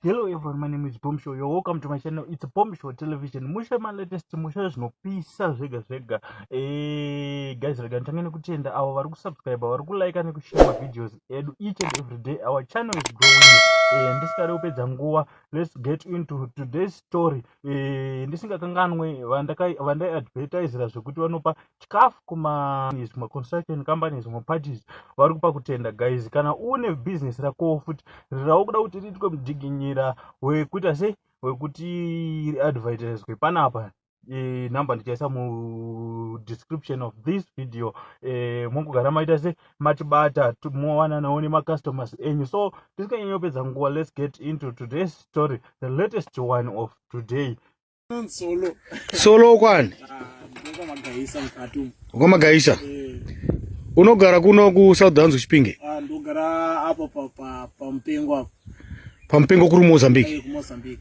Hello everyone, my name is Bomb Show. You're welcome to my channel. It's Bomb Show Television. Musha my latest musha zvinopisa zvega zvega. Eh, guys, rega ntange nekutenda avo vari kusubscribe, vari kulike nekushare my videos edu each and every day. Our channel is growing. Eh, ndisingade kupedza nguva. Let's get into today's story. Eh, ndisingakanganwe vandai advertisera zvekuti vanopa chikafu kumazvimwe construction companies zvimwe parties vari kupa kutenda guys kana une business rakowo futi rirawo kuda kuti riitwe mudiginyira wekuita sei wekuti riadvertiswe panapa e, number ndichaisa mudescription of this video e, mongogara maita se matibata mowananawo nemacustomers enyu so tisikanyanyopedza nguva let's get into today's story the latest one of today Solo. Solo kwani? Ukamagaisa. Eh. Unogara kuno ku South Downs kuChipinge? Ah, ndogara apo pa pa pa Mpengo apo. Pa Mpengo kuri Mozambique. Eh, ku Mozambique.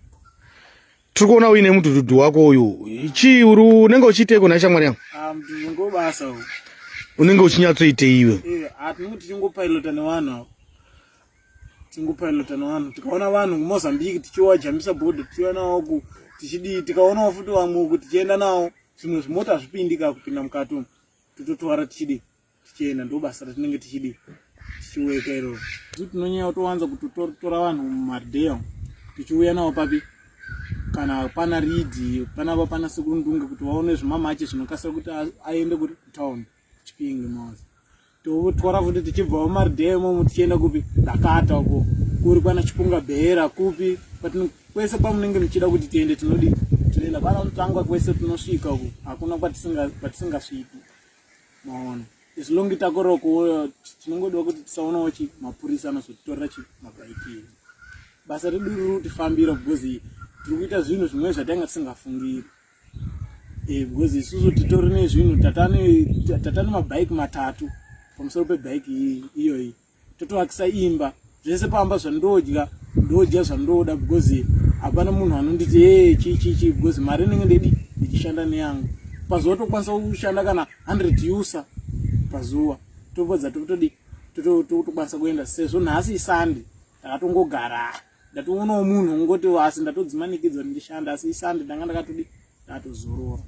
Tiri kuona uine mudududu wako uyu. Chii uri unenge uchiiteko na shamwari yangu? Ah, mdududu ngobasa uyu. Unenge uchinyatsoitei iwe? Eh, atinoti tingopilota nevanhu apo. tingopilotana vanhu tikaona vanhu kumozambique tichiwajambisa bhodha tichiuya nawo ku tichidii tikaonawo futi vamwe uku tichienda nawo zvimwe zvimota hazvipindika kupinda mukati umu tototwara tichidii tichienda ndo basa ratinenge tichidii tichiweka iroro zu tinonyanya kutowanza kutotora vanhu mumardeya umu tichiuya nawo papi kana pana ridi panapa pana sekundunge kuti vaone zvimamache zvinokasira kuti aende kutown chipinge mose totwara futi tichibvawo maridhee imomo tichienda kupi dakata uko kuri kwana chipunga bhera kupi kwese kwamunenge muchida kuti tiende tinodi tinoenda pana unotanga kwese tinosvika uko hakuna kwatisingasviki maona as long takoroko tinongoda kuti tisaonawo chi mapurisa anozotitorera chi mabhaikiri basa redu riri kutifambira because tiri kuita zvinhu zvimwe zvatanga tisingafungiri eh, because isusu titori nezvinhu tatane mabhaiki matatu pamusoro pebhaiki iyoyi totoakisa imba zvese pamba zvandodya ndodya zvandoda because hapana munhu anonditi e chii chii chii because mari inenge ndidi ndichishanda neyangu pazuva tokwanisa kushanda kana 100 usa pazuva topedza totodi totokwanisa kuenda sezvo nhasi isande takatongogara ndatoonawo munhu ungoti asi ndatodzimanikidzwa kuti ndishanda asi isande ndanga ndakatodi ndatozorora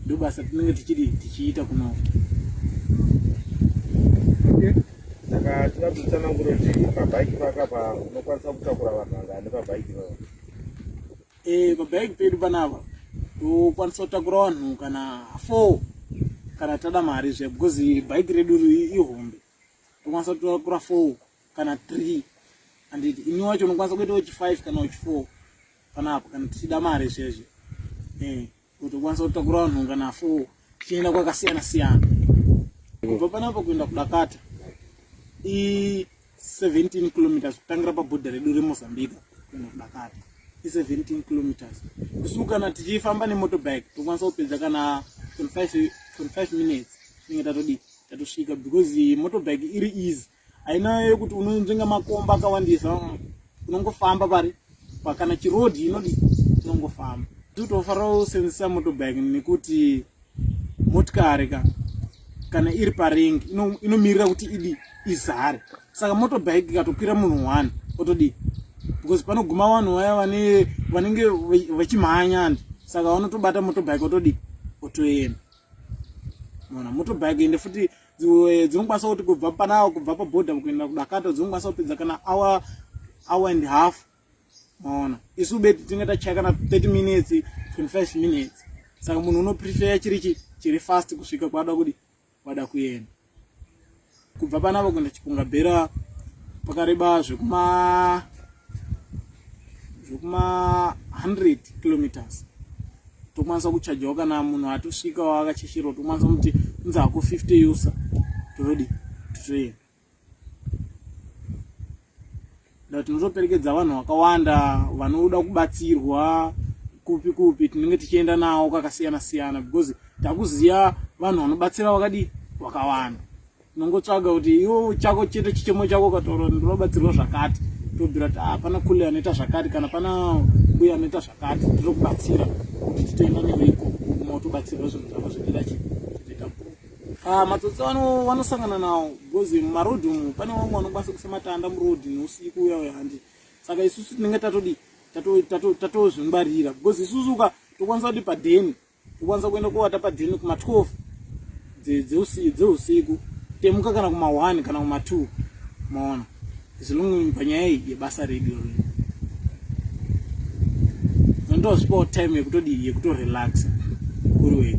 ndobasa tinenge tichiri tichiita kuno saka tinoda kutsanangura kuti pabhaiki pakapa unokwanisa kutakura vanhu vangani pabhaiki paa eh, pabhaiki pedu panapa tokwanisa kutakura vanhu kana four kana tada mari zve because bhaiki redu ihombe unokwanisa kutora kura four kana three anditi ini wacho unokwanisa kuita wechi five kana wechi four panapo kana tichida mari zveshe eh, kuti ukwanisa kutakura vanhu kana four tichienda kwakasiyana siyana kubva panapo kuenda kudakata i 17 kilometers kutangira pabhodha redu remozambique kuenda kudakata i 17 kilometers isu kana tichifamba nemotobike tokwanisa kupedza kana 25 minutes inenge tatodii tatosvika because motorbike iri easy haina yekuti unonzvenga makomba akawandisa unongofamba pari pakana chiroad inodi unongofamba titofanira kusenzesa motorbike nekuti motikari ka kana iri paring inomirira kuti idi izare saka motorbike ikatokwira munhu one otodii because panoguma vanhu vaya vanenge vachimhanya andi saka vanotobata motobike otodi otoenda mona motobike ende futi eh, dzinokwanisa kuti kubva panawo kubva paborder kuenda kudakata dzinokwanisa kupedza kana hour hour and half mona isu beti tinenge tachaya kana 30 minutes 25 minutes saka munhu unopreferya chiri chiri fast kusvika kwaada kudi kwada kuenda kubva panavo kuenda chipunga bhera pakareba zvekuma zvekuma 100 kilometers tokwanisa kuchajawo kana munhu atosvikawo akachishirwa tokwanisa kuti unzi hako 50 yusa todii totoenda na tinotoperekedza vanhu vakawanda vanoda kubatsirwa kupi kupi tinenge tichienda nawo kakasiyana siyana because takuziva vanhu vanobatsira vakadii vakawanda unongotsvaga kuti iwo chako chete chichemo chako ukataura kuti ndinobatsirwa zvakati tobvira kuti ah, pana kule anoita zvakati kana pana mbuya anoita zvakati tinokubatsira kuti titoenda newe ikoko unotobatsirwa zvinhu zvako zvedera chii Ah, matsotsi ano vanosangana nawo because mumarodhi umu pane vamwe vanokwanisa kuisa matanda murodhi neusiku uya uya handi saka isusu tinenge tatodi tatozvingwarira because isusu uka tokwanisa kuti padheni tokwanisa kuenda kovata padheni kuma12 dzeusiku temuka kana kuma1 kana kuma2 maona zilungu panyaya iyi yebasa redu iri ndozipawo time yekutodii yekutorelaxa kuri wega